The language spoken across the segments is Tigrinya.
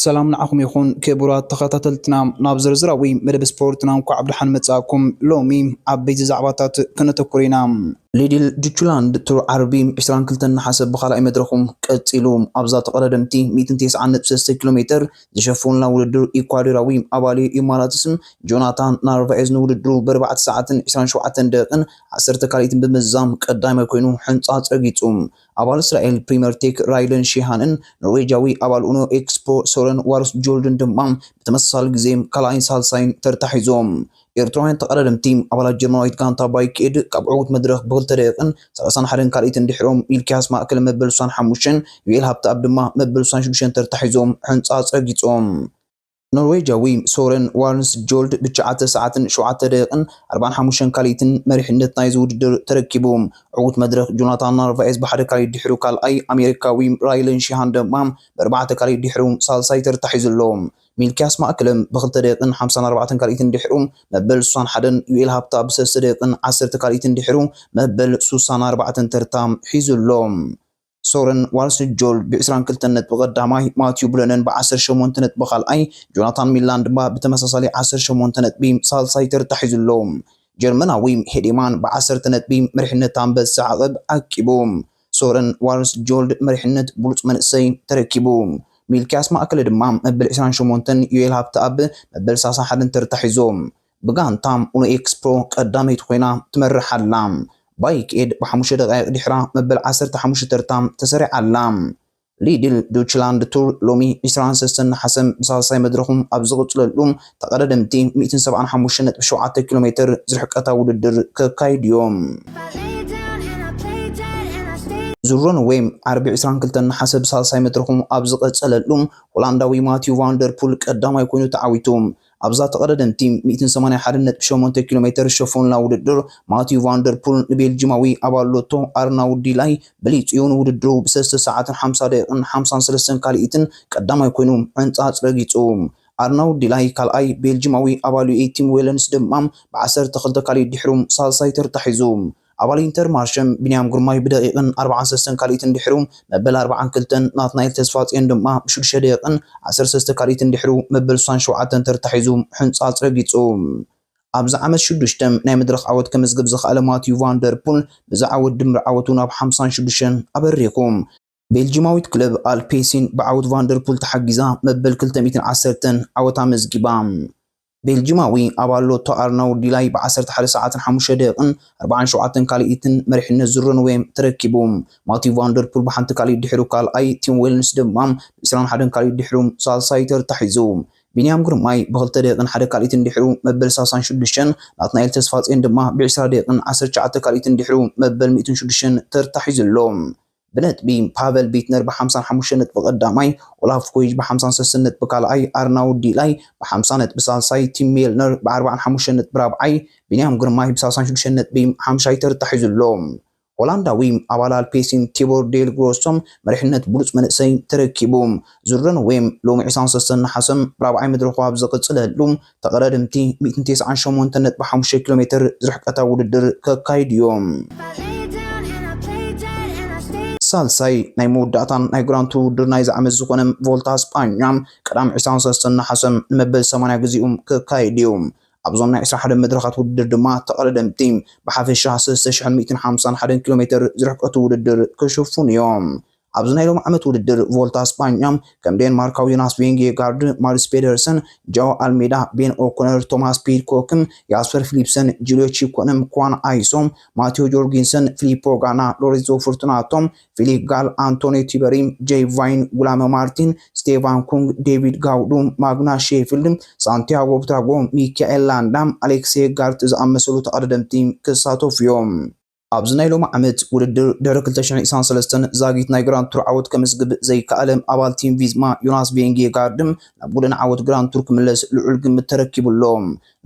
ሰላም ንዓኹም ይኹን ክቡራት ተኸታተልትና፣ ናብ ዝርዝራዊ መደብ ስፖርትና እንኳዕ ብደሓን መጻእኩም። ሎሚ ዓበይቲ ዛዕባታት ከነተኩር ኢና። ሊድል ጁቹላንድ ትሩ ዓርቢ 22 ነሓሰ ብኻልኣይ መድረኹ ቀጺሉ። ኣብዛ ተቐዳደምቲ 193 ኪሎ ሜተር ዝሸፈኑላ ውድድር ኢኳዶራዊ ኣባሊ ኢማራትስን ጆናታን ናርቫኤዝ ንውድድሩ ብኣርባዕተ ሰዓትን 27 ደቂቕን ዓሰርተ ካልኢት ብምዝዛም ቀዳማይ ኰይኑ ሕንጻጽ ረጊጹ። ኣባል እስራኤል ፕሪመር ቴክ ራይደን ሺሃንን ኖርዌጃዊ ኣባል ኡኖ ኤክስፖ ሶረን ዋርስጆልድን ድማ ብተመሳሳሊ ግዜ ካልኣይን ሳልሳይን ተርታ ሒዞም። ኤርትራውያን ተቐዳደምቲ፣ ኣባላት ጀርመናዊት ጋንታ ባይክኤድ ካብ ዕዉት መድረኽ ብክልተ ደቒቕን ሰላሳን ሓደን ካልኢትን ድሒሮም ሚልክያስ ማእከለ መበል ሳን ሓሙሽተን ዩኤል ሃብተኣብ ድማ መበል ሳን ሽዱሽተን ተርታ ሒዞም ሕንጻጽ ረጊጾም። ኖርወጃዊ ሶረን ዋርንስጆልድ ብትሽዓተ ሰዓትን ሸውዓተ ደቂቕን ኣርባዓን ሓሙሽተን ካልኢትን መሪሕነት ናይዚ ውድድር ተረኪቡ። ዕዉት መድረኽ ጆናታን ናርቫኤዝ ብሓደ ካልኢት ድሒሩ ካልኣይ፣ ኣሜሪካዊ ራይለን ሺሃን ድማ ብኣርባዕተ ካልኢት ድሒሩ ሳልሳይ ተርታ ሒዙ ኣሎ። ሚልክያስ ማእከለም ብክልተ ደቂቕን ሓምሳን ኣርባዕተን ካልኢትን ድሒሩ መበል ሱሳን ሓደን፣ ዩኤል ሃብታ ብሰለስተ ደቂቕን ዓሰርተ ካልኢትን ድሒሩ መበል ሱሳን ኣርባዕተን ተርታ ሒዙ ኣሎ። ሶረን ዋልስጆል ብ ዕስራን ክልተን ነጥቢ ቀዳማይ፣ ማቲው ብለነን ብ ዓሰርተ ሸሞንተ ነጥቢ ካልኣይ፣ ጆናታን ሚላን ድማ ብተመሳሳሊ ዓሰርተ ሸሞንተ ነጥቢ ሳልሳይ ተርታ ሒዙ ኣሎ። ጀርመናዊ ሄዴማን ብ ዓሰርተ ነጥቢ መሪሕነት ኣንበሳ ዓቐብ ዓቂቡ። ሶረን ዋልስጆልድ መሪሕነት ብሉጽ መንእሰይ ተረኪቡ። ሚልክያስ ማእከለ ድማ መበል ዕስራን ሸሞንተን፣ ዮኤል ሃብተኣብ መበል ሳልሳን ሓደን ተርታ ሒዞም። ብጋንታ ኡኖኤክስ ፕሮ ቀዳመይቲ ኮይና ትመርሕ ኣላ። ባይክ ኤድ ብሓሙሽተ ደቓይቕ ድሒራ መበል ዓሰርተ ሓሙሽተ ተርታ ተሰሪዓ ኣላ። ሊድል ዶችላንድ ቱር ሎሚ ዕስራን ሰሰን ነሓሰ ብሳልሳይ መድረኹ ኣብ ዝቕፅለሉ ተቐዳደምቲ ሚእትን ሰብዓን ሓሙሽተን ነጥቢ ሸውዓተ ኪሎ ሜትር ዝርሕቀታ ውድድር ከካይዱ እዮም። ዙሮንዌ ዓርቢ ዕስራን ክልተን ነሓሰ ብሳልሳይ መድረኹ ኣብ ዝቐፀለሉ ሆላንዳዊ ማቲው ቫንደርፑል ቀዳማይ ኮይኑ ተዓዊቱ ኣብዛ ተቐዳደምቲ ሚእትን ሰማንያን ሓደን ነጥቢ ሸሞንተ ኪሎ ሜተር ሸፎንላ ውድድር፣ ማቲው ቫን ደር ፑል ንቤልጂማዊ ኣባል ሎቶ ኣርናውድ ዲላይ በሊጹ'ዩ ንውድድሩ ብሰለስተ ሰዓትን ሓምሳ ደቒቕን ሓምሳን ሰለስተን ካልኢትን ቀዳማይ ኮይኑ ዕንጻጽ ረጊጹ። ኣርናውድ ዲላይ ካልኣይ፣ ቤልጂማዊ ኣባል ዩኤ ቲም ዌለንስ ድማ ብዓሰርተ ክልተ ካልኢት ድሒሩ ሳልሳይ ተርታ ሒዙ። ኣባል ኢንተርማርሸም ቢንያም ግርማይ ብደቂቕን ኣርብዓን ሰሰን ካልኢትን ድሕሩ መበል ኣርብዓን ክልተን፣ ናትናኤል ተስፋጽዮን ድማ ብሽዱሽተ ደቂቕን ዓሰርተ ሰለስተ ካልኢትን ድሕሩ መበል ስሳን ሸውዓተን ተርታ ሒዙ ሕንጻጽ ረጊጹ። ኣብዚ ዓመት ሽዱሽተ ናይ መድረኽ ዓወት ከምዝግብ ዝኸኣለ ማቲው ቫን ደር ፑል፣ በዚ ዓወት ድምር ዓወቱ ናብ ሓምሳን ሽዱሽተን ኣበሪኹ። ቤልጂማዊት ክለብ ኣልፔሲን ብዓውት ቫንደርፑል ተሓጊዛ መበል ክልተ ሚእትን ዓሰርተን ዓወት ኣመዝጊባ። ቤልጂማዊ ኣባል ሎቶ ኣርናውድ ዲላይ ብ ዓሰርተ ሓደ ሰዓትን ሓሙሽተ ደቂቕን ኣርብዓን ሸውዓተን ካልኢትን መሪሕነት ዙር-ረንዌይ ተረኪቡ። ማቲው ቫንደርፑል ብሓንቲ ካልኢት ድሒሩ ካልኣይ፣ ቲም ዌልንስ ድማ ብ ዕስራን ሓደን ካልኢት ድሒሩ ሳልሳይ ተርታ ሒዙ። ቢንያም ግርማይ ብ ክልተ ደቂቕን ሓደ ካልኢትን ድሒሩ መበል ሳሳን ሽዱሽተን፣ ናትናኤል ተስፋጼን ድማ ብ ዕስራ ደቂቕን ዓሰርተ ትሽዓተ ካልኢትን ድሒሩ መበል ሚእትን ሽዱሽተን ተርታ ሒዙ ኣሎ። ብነጥቢ፣ ፓቨል ቢትነር ብሓምሳን ሓሙሽተን ነጥቢ ቀዳማይ፣ ኦላፍ ኮይጅ ብሓምሳን ሰስን ነጥቢ ካልኣይ፣ ኣርናውድ ዲላይ ብሓምሳ ነጥቢ ሳልሳይ፣ ቲም ሜልነር ብዓርባን ሓሙሽተን ነጥቢ ራብዓይ፣ ቢንያም ግርማይ ብሳልሳን ሽዱሽተን ነጥቢ ሓምሻይ ተርታ ሒዙ ኣሎ። ሆላንዳዊ ኣባል ኣልፔሲን ቲቦር ዴል ግሮሶ መሪሕነት ብሉጽ መንእሰይ ተረኪቡ። ዙረንዌም ሎሚ ዕስራን ሰሰን ነሓሰ ራብዓይ መድረኹ ኣብ ዝቕጽለሉ፣ ተቐዳደምቲ ሚእትን ቴስዓን ሸሞንተን ነጥቢ ሓሙሽተ ኪሎ ሜትር ዝርሕቀታ ውድድር ከካይዱ እዮም። ሳልሳይ ናይ መወዳእታን ናይ ግራንድ ቱር ውድድር ናይዚ ዓመት ዝኾነ ቮልታ ስጳኛ ቀዳም ዕስራን ሰለስተን ነሓሰ ንመበል ሰማንያ ግዜኡ ክካየድ እዩ። ኣብዞም ናይ ዕስራ ሓደን መድረኻት ውድድር ድማ ተቐዳደምቲ ብሓፈሻ ሰለስተ ሽሕን ሚእትን ሓምሳን ሓደን ኪሎ ሜተር ዝርሕቀቱ ውድድር ክሽፍኑ እዮም። ኣብዚ ናይ ሎሚ ዓመት ውድድር ቮልታ ስጳኛ ከም ዴንማርካዊ ዮናስ ቬንጌጋርድ፣ ማድስ ፔደርሰን፣ ጃኦ ኣልሜዳ፣ ቤን ኦኮነር፣ ቶማስ ፒድኮክን፣ ያስፐር ፊሊፕሰን፣ ጁልዮ ቺኮንም፣ ኳን ኣይሶም፣ ማቴዎ ጆርጊንሰን፣ ፊሊፖ ጋና፣ ሎሬንዞ ፉርቱናቶም፣ ፊሊክ ጋል፣ ኣንቶኒዮ ቲበሪም፣ ጀይ ቫይን፣ ጉላመ ማርቲን፣ ስቴቫን ኩንግ፣ ዴቪድ ጋውዱ፣ ማግናስ ሼፊልድ፣ ሳንቲያጎ ብትራጎ፣ ሚካኤል ላንዳ፣ ኣሌክሴ ጋርት ዝኣመሰሉ ተቐዳደምቲ ክሳተፉ እዮም። ኣብዚ ናይ ሎሚ ዓመት ውድድር ድሕሪ ክልተ ሽሕን ዒስራን ሰለስተን ዛጊት ናይ ግራንድ ቱር ዓወት ከምዝግብ ዘይከኣለ ኣባል ቲም ቪዝማ ዮናስ ቬንጌጋርድ ናብ ጎደና ዓወት ግራንድ ቱር ክምለስ ልዑል ግምት ተረኪቡ ኣሎ።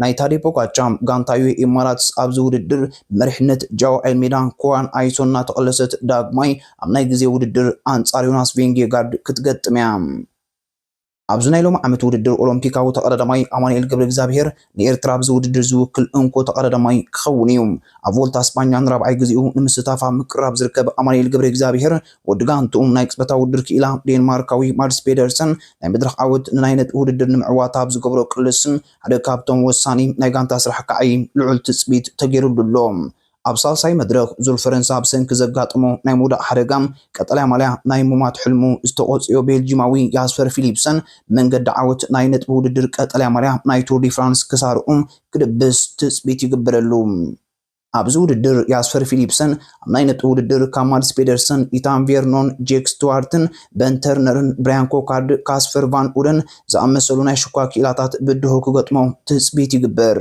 ናይ ታዴ ፖጋቻር ጋንታ ዩኤኢ ኢማራትስ ኣብዚ ውድድር ብመሪሕነት ጃኦ ኣልሜዳ፣ ኩዋን ኣይሶን እናተቐለሰት ዳግማይ ኣብ ናይ ግዜ ውድድር ኣንጻር ዮናስ ቬንጌጋርድ ክትገጥም እያ። ኣብዚ ናይ ሎሚ ዓመት ውድድር ኦሎምፒካዊ ተቐዳዳማይ ኣማኑኤል ገብረእግዚኣብሄር ንኤርትራ ኣብዚ ውድድር ዝውክል እንኮ ተቐዳዳማይ ክኸውን እዩ። ኣብ ቮልታ ስጳኛ ንራብዓይ ግዜኡ ንምስታፍ ኣብ ምቅርራብ ዝርከብ ኣማኑኤል ገብረእግዚኣብሄር ወዲ ጋንትኡ ናይ ቅጽበታዊ ውድድር ክኢላ ዴንማርካዊ ማድስ ፔደርሰን ናይ መድረኽ ዓወት ንናይ ነጥቢ ውድድር ንምዕዋት ኣብ ዝገብሮ ቅልስ ሓደ ካብቶም ወሳኒ ናይ ጋንታ ስራሕ ክዓዪ ልዑል ትጽቢት ተገይሩሉ ኣሎ። ኣብ ሳልሳይ መድረኽ ዙር ፈረንሳ ብሰንኪ ዘጋጠሞ ናይ ምውዳቕ ሓደጋ ቀጠልያ ማልያ ናይ ምሟት ሕልሙ ዝተቖጽዮ ቤልጂማዊ ያስፐር ፊሊፕሰን ብመንገዲ ዓወት ናይ ነጥቢ ውድድር ቀጠልያ ማልያ ናይ ቱር ዲ ፍራንስ ክሳርኡ ክድብስ ትጽቢት ይግበረሉ። ኣብዚ ውድድር ያስፐር ፊሊፕሰን ኣብ ናይ ነጥቢ ውድድር ካብ ማድስ ፔደርሰን፣ ኢታን ቬርኖን፣ ጄክ ስትዋርትን፣ በን ተርነርን፣ ብራያን ኮካርድ፣ ካስፐር ቫን ኡደን ዝኣመሰሉ ናይ ሽኳ ክኢላታት ብድሆ ክገጥሞ ትጽቢት ይግበር።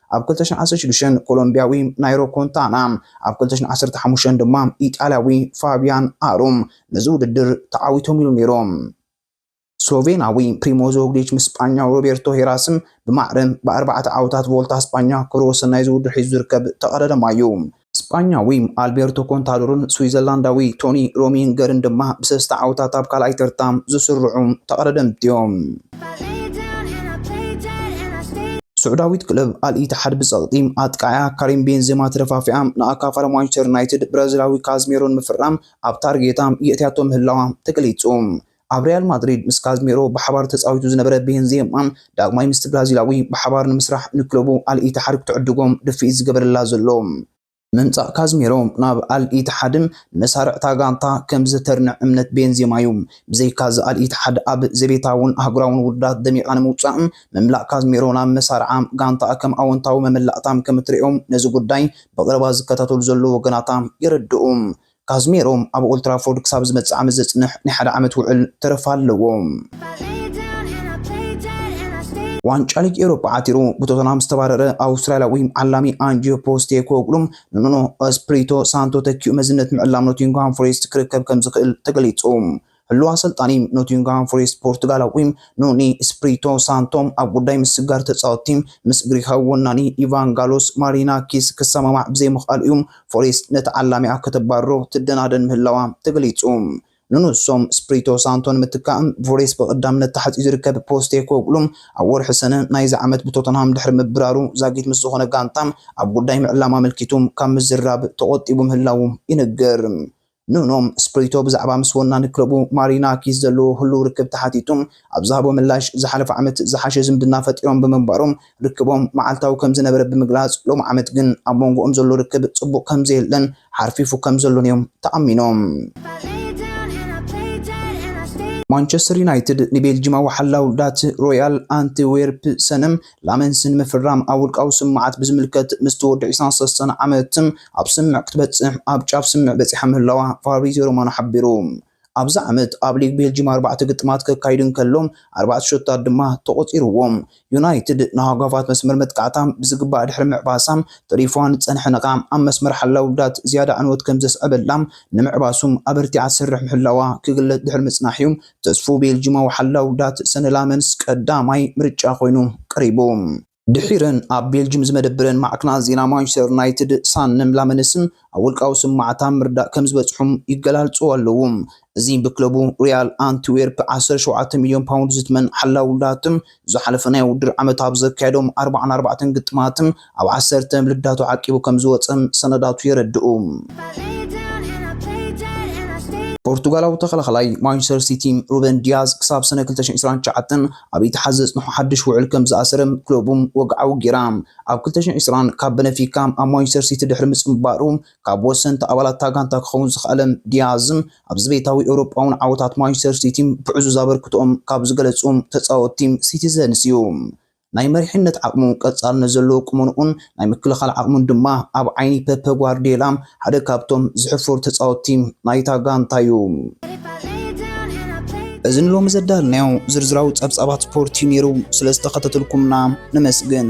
ኣብ ክልተ ሽሕን ዓሰርተ ሽዱሽተን ኮሎምብያዊ ናይሮ ኮንታና፣ ኣብ ክልተ ሽሕን ዓሰርተ ሓሙሽተን ድማ ኢጣልያዊ ፋብያን ኣሩም ነዚ ውድድር ተዓዊቶም ኢሉ ነይሩ። ስሎቬናዊ ፕሪሞ ዞግሊች ምስ ስጳኛዊ ሮቤርቶ ሄራስም ብማዕረ ብኣርባዕተ ዓወታት ቮልታ ስጳኛ ክብረ ወሰን ናይዚ ውድድር ሒዙ ዝርከብ ተቐዳዳማይ'ዩ። ስጳኛዊ ኣልቤርቶ ኮንታዶርን ስዊዘርላንዳዊ ቶኒ ሮሚንገርን ድማ ብሰስተ ዓወታት ኣብ ካልኣይ ተርታ ዝስርዑ ተቐዳደምቲ'ዮም። ስዑዳዊት ክለብ ኣል ኢትሓድ ብጸቕጢ ኣጥቃዒኣ ካሪም ቤንዜማ ተደፋፊኣ ንኣካፋሪ ማንቸስተር ዩናይትድ ብራዚላዊ ካዝሜሮ ንምፍራም ኣብ ታርጌታ የእትያቶ ምህላዋ ተገሊጹ። ኣብ ሪያል ማድሪድ ምስ ካዝሚሮ ብሓባር ተጻዊቱ ዝነበረ ቤንዜማ፣ ዳግማይ ምስቲ ብራዚላዊ ብሓባር ንምስራሕ ንክለቡ ኣል ኢትሓድ ክትዕድጎ ድፍኢት ዝገበረላ ዘሎ። ምምጻእ ካዝሚሮ ናብ ኣል ኢትሓድ፣ ንመሳርዕ'ታ ጋንታ ከም ዝተርንዕ እምነት ቤንዜማ'ዩ። ብዘይካ'ዚ ኣል ኢትሓድ ኣብ ዘቤታውን ኣህጉራውን ውድድራት ደሚቓ ንምውጻእ ምምላእ ካዝሚሮ ናብ መሳርዓ ጋንታኣ ከም ኣወንታዊ መመላእታ ከም እትርእዮ ነዚ ጉዳይ ብቐረባ ዝከታተሉ ዘለዉ ወገናታ የረድኡ። ካዝሜሮ ኣብ ኦልትራፎርድ ክሳብ ዝመጽእ ዓመት ዘጽንሕ ናይ ሓደ ዓመት ውዕል ተረፍ ኣለዎ። ዋንጫ ሊግ ኤውሮጳ ዓቲሩ ብቶተንሃም ዝተባረረ ኣውስትራልያዊ ዓላሚ ኣንጂዮ ፖስቴኮግሉ ንኑኖ ስፕሪቶ ሳንቶ ተኪኡ መዝነት ምዕላም ኖቲንግሃም ፎሬስት ክርከብ ከም ዝኽእል ተገሊጹ። ህሉው ኣሰልጣኒ ኖቲንግሃም ፎሬስት ፖርቱጋላዊ ኑኒ ስፕሪቶ ሳንቶ ኣብ ጉዳይ ምስግጋር ተጻወትቲ ምስ ግሪኻዊ ወናኒ ኢቫንጋሎስ ማሪናኪስ ክሰማማዕ ብዘይምኽኣሉ እዩ ፎሬስት ነቲ ዓላሚኣ ከተባርሮ ትደናደን ምህላዋ ተገሊጹ። ንንሶም ስፕሪቶ ሳንቶ ንምትካእ ብፎሬስት ብቐዳምነት ተሓጽዩ ዝርከብ ፖስቴኮግሉ ኣብ ወርሒ ሰነ ናይዚ ዓመት ብቶተንሃም ድሕሪ ምብራሩ ዛጊት ምስ ዝኾነ ጋንታ ኣብ ጉዳይ ምዕላም ኣመልኪቱ ካብ ምዝራብ ተቖጢቡ ምህላዉ ይንገር። ኑኖ ስፕሪቶ ብዛዕባ ምስ ወናኒ ክለቡ ማሪና ኪዝ ዘለዎ ህሉው ርክብ ተሓቲቱ ኣብ ዝሃቦ ምላሽ፣ ዝሓለፈ ዓመት ዝሓሸ ዝምድና ፈጢሮም ብምንባሮም ርክቦም መዓልታዊ ከምዝነበረ ብምግላጽ፣ ሎሚ ዓመት ግን ኣብ መንጎኦም ዘሎ ርክብ ጽቡቕ ከምዘየለን ሓርፊፉ ከምዘሎን'ዮም ተኣሚኖም። ማንቸስተር ዩናይትድ ንቤልጂማዊ ሓላው ዳት ሮያል ኣንትዌርፕሰንም ላመንስን ምፍራም ኣብ ውልቃዊ ስምምዓት ብዝምልከት ምስቲ ወዲ ዕስራን ሰለስተን ዓመት ኣብ ስምምዕ ክትበጽሕ ኣብ ጫፍ ስምምዕ በጺሓ ምህላዋ ፋብሪዝዮ ሮማኖ ሓቢሩ። ኣብዚ ዓመት ኣብ ሊግ ቤልጂም ኣርባዕተ ግጥማት ከካይዱ እንከሎ ኣርባዕተ ሸቶታት ድማ ተቖጺርዎም። ዩናይትድ ንሃጓፋት መስመር መጥቃዕታ ብዝግባእ ድሕሪ ምዕባሳ ተሪፉዋ ንዝጸንሐ ነቓዕ ኣብ መስመር ሓላው ጉዳት ዝያዳ ዕንወት ከምዘስዐበላ ንምዕባሱ ኣበርቲዓ ትሰርሕ ምህላዋ ክግለጽ ድሕሪ ምጽናሕ'ዩ ተስፉ ቤልጂማዊ ሓላው ዳት ሰነላመንስ ቀዳማይ ምርጫ ኮይኑ ቀሪቡ። ድሒረን ኣብ ቤልጂም ዝመደብረን ማዕክናት ዜና ማንቸስተር ዩናይትድ ሳነም ላመንስ ኣብ ውልቃዊ ስምማዓታ ምርዳእ ከምዝበጽሑም ይገላልጹ ኣለዉ። እዚ ብክለቡ ሪያል ኣንትዌርፕ ዓሰርተ ሸውዓተ ሚልዮን ፓውንድ ዝትመን ሓላው ዳት ዝሓለፈ ናይ ውድድር ዓመት ኣብ ዘካየዶም ኣርብዓን ኣርባዕተን ግጥማት ኣብ ዓሰርተ ልዳቱ ዓቂቡ ከምዝወጸ ሰነዳቱ የረድኡ። ፖርቱጋላዊ ተኸላኻላይ ማንቸስተር ሲቲ ሩበን ዲያዝ ክሳብ ሰነ ክልተ ሽሕን ዕስራን ትሽዓተን ኣብ ኢትሓድ ዘጽንሖ ሓድሽ ውዕል ከምዝኣሰረ ክለቡ ወግዓዊ ገይራ። ኣብ ክልተ ሽሕን ዕስራን ካብ በነፊካ ኣብ ማንቸስተር ሲቲ ድሕሪ ምጽንባሩ ካብ ወሰንቲ ኣባላት እታ ጋንታ ክኸውን ዝኸኣለ ዲያዝ፣ ኣብ ዘቤታዊ ኤውሮጳውን ዓወታት ማንቸስተር ሲቲ ብዕዙዝ ኣበርክቶኦም ካብ ዝገለጹ ተጻወትቲ ሲቲዘንስ እዩ። ናይ መሪሕነት ዓቕሙ፣ ቀጻልነት ዘለዎ ቁመንኡን ናይ ምክልኻል ዓቕሙን ድማ ኣብ ዓይኒ ፐፐ ጓርድዮላ ሓደ ካብቶም ዝሕፈሩ ተጻወትቲ ናይታ ጋንታ እዩ። እዚ ንሎሚ ዘዳልናዮ ዝርዝራዊ ጸብጻባት ስፖርት እዩ ነይሩ። ስለ ዝተኸታተልኩምና ነመስግን።